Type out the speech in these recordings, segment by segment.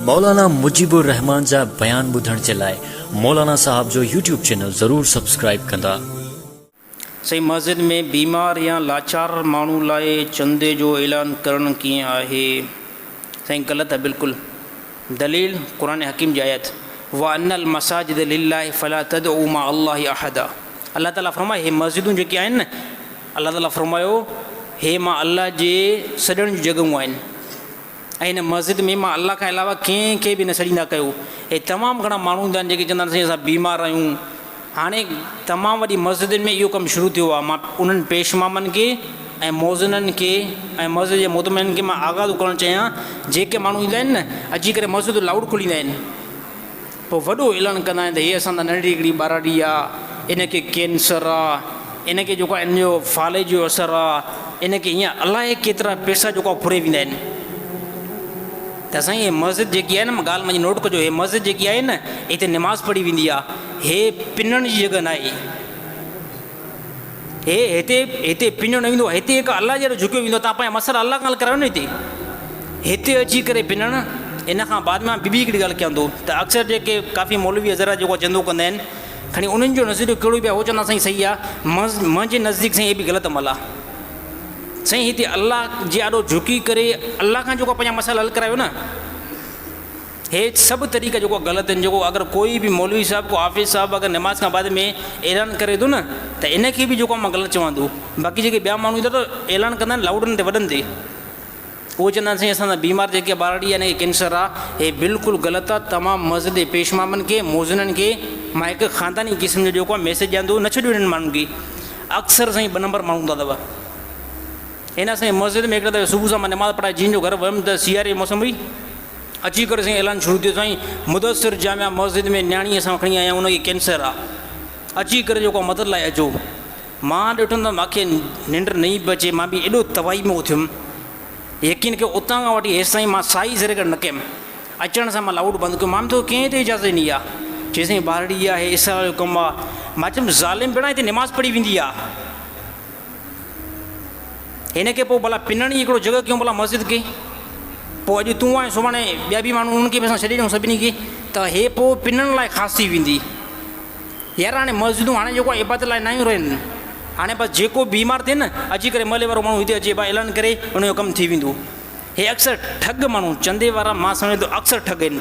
مولانا مجيب الرحمان جا بيان ٻڌڻ جي لاء مولانا صاحب جو يوٽيوب چينل ضرور سبسڪرائيب ڪندا. سائين مسجد ۾ بيمار يا لاچار ماڻهو لاء چندي جو اعلان ڪرڻ ڪيئن آهي؟ سائين غلط آهي بلڪل دليل قرآن حڪيم جي آيت وان المساجد لله فلا تدعو مع الله احدا الله تعالي فرمائي هي مسجدون جيڪي آهن نه الله تعالي فرمايو هي مان الله جي سڏڻ جون جڳهون آهن ۽ هن مسجد ۾ مان الله کان علاوه ڪنهن کي به نه سڏيندا ڪيو ۽ تمام گهڻا ماڻهو هوندا آهن جيڪي چوندا آهن سائين اسان بيمار آهيون هاڻي تمام وڏي مسجدن ۾ اهو ڪم شروع ٿيو آهي مان انهن پيش امامن کي ۽ مؤذنن کي ۽ مسجد جي مؤتمنن کي مان آگاهه ٿو ڪرڻ چاهيان جيڪي ماڻهو ايندا آهن نه اچي ڪري مسجد جو لائوڊ کوليندا آهن پوء وڏو اعلان ڪندا آهن ته هيء اسان تان ننڍڙي هڪڙي ٻاراڙي آ، ان کي ڪينسر آ، ان کي جيڪو آ ان جو فالج جو اثر آ، ان کي ايئن الائي ڪيترا پئسا جيڪو آ ڦري ويندا آهن. ته سائين هي مسجد جيڪي آهي نه ڳالهه منهنجي نوٽ ڪجو هي مسجد جيڪي آهي نه هتي نماز پڙهي ويندي آ، هي پنڻ جي جڳهه ناهي. هي هتي هتي پنيو نه ويندو هتي هڪ الله جهڙو جهڪيو ويندو تان پنهنجا مسئلا الله کان حل ڪرايو نه هتي هتي اچي ڪري پنڻ ان کان بعد مان ٻي هڪڙي ڳالهه ڪيان ٿو ته اڪثر جيڪي ڪافي مولوي حضرات جيڪو چندو ڪندا آهن کڻي انهن جو نظريو ڪهڙو به آهي هو چوندا سائين صحيح آهي منهنجي نزديڪ سائين هي به غلط عمل آهي سائين هتي الله جي آڏو جهڪي ڪري الله کان جيڪو پنهنجا مسئلا حل ڪرايو نه هي سڀ طريقا جيڪو غلط آهن جيڪو اگر ڪوئي به مولوي صاحب ڪو حافظ صاحب اگر نماز کان بعد ۾ اعلان ڪري ٿو نه ته ان کي به جيڪو مان غلط چوان ٿو باقي جيڪي ٻيا ماڻهو ٿا ته اعلان ڪندا آهن لائوڊن تي وڏن تي اهو چوندا آهن سائين اسان سان بيمار جيڪي ٻارڙي آهي نه ڪينسر آهي هي بلڪل غلط آهي تمام مسجد جي پيشمامن کي موزنن کي مان هڪ خانداني قسم جو جيڪو ميسج ڏيان ٿو نه ڇڏيو هنن ماڻهن کي اڪثر سائين ٻه نمبر ماڻهو هوندا اٿو هن سائين مسجد ۾ هڪڙا صبح سان مان نماز پڙهائي جن جو گھر ويم ته سياري جي موسم هئي اچي ڪري سائين اعلان شروع ٿيو سائين مدثر جامع مسجد ۾ نياڻي اسان وٽ کڻي آيا ان کي ڪينسر آ اچي ڪري جيڪو مدد لاء اچو مان ڏٺم ته ماکي ننڊ نئي پئي اچي مان به ايڏو تباهي ۾ اٿيم يقين ڪيو اتان کان وٺي هيسي مان سائي سر ڪري نه ڪيم اچڻ سان مان لائوڊ بند ڪيو مان تو ڪنهن تي اجازت ڏني آ چي سائين ٻارڙي آهي اسرا جو ڪم آ مان چيم ظالم بيڙا هتي نماز پڙهي ويندي آ هن کي پوء ڀلا پنڻ ئي هڪڙو جڳهه ڪيون ڀلا مسجد کي. پوء اڄ تون آهين سڀاڻي ٻيا به ماڻهو انهن کي به اسان ڇڏي ڏيون سڀني کي ته هي پوء پنڻ لاء خاص ٿي ويندي. يار هاڻي مسجدون هاڻي جيڪو آهي عبادت لاء ناهيون رهيون. هاڻي بس جيڪو بيمار ٿئي نه اچي ڪري محلي وارو ماڻهو هتي اچي با اعلان ڪري ان جو ڪم ٿي ويندو. هي اڪثر ٺڳ ماڻهو چندي وارا مان سمجهان ٿو اڪثر ٺڳ آهن.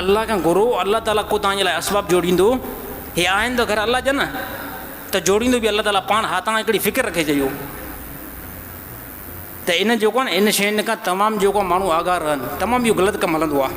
الله کان گهرو الله تعالي ڪو توهان جي لاء اسباب جوڙيندو هي آهن ته گهر الله جا نه ته جوڙيندو به الله تعالي پاڻ ها توهان هڪڙي فڪر رکي چئيو ته ان جيڪو آهي ان شين کان تمام جيڪو ماڻهو آگاهه رهن تمام اهو غلط ڪم هلندو آهي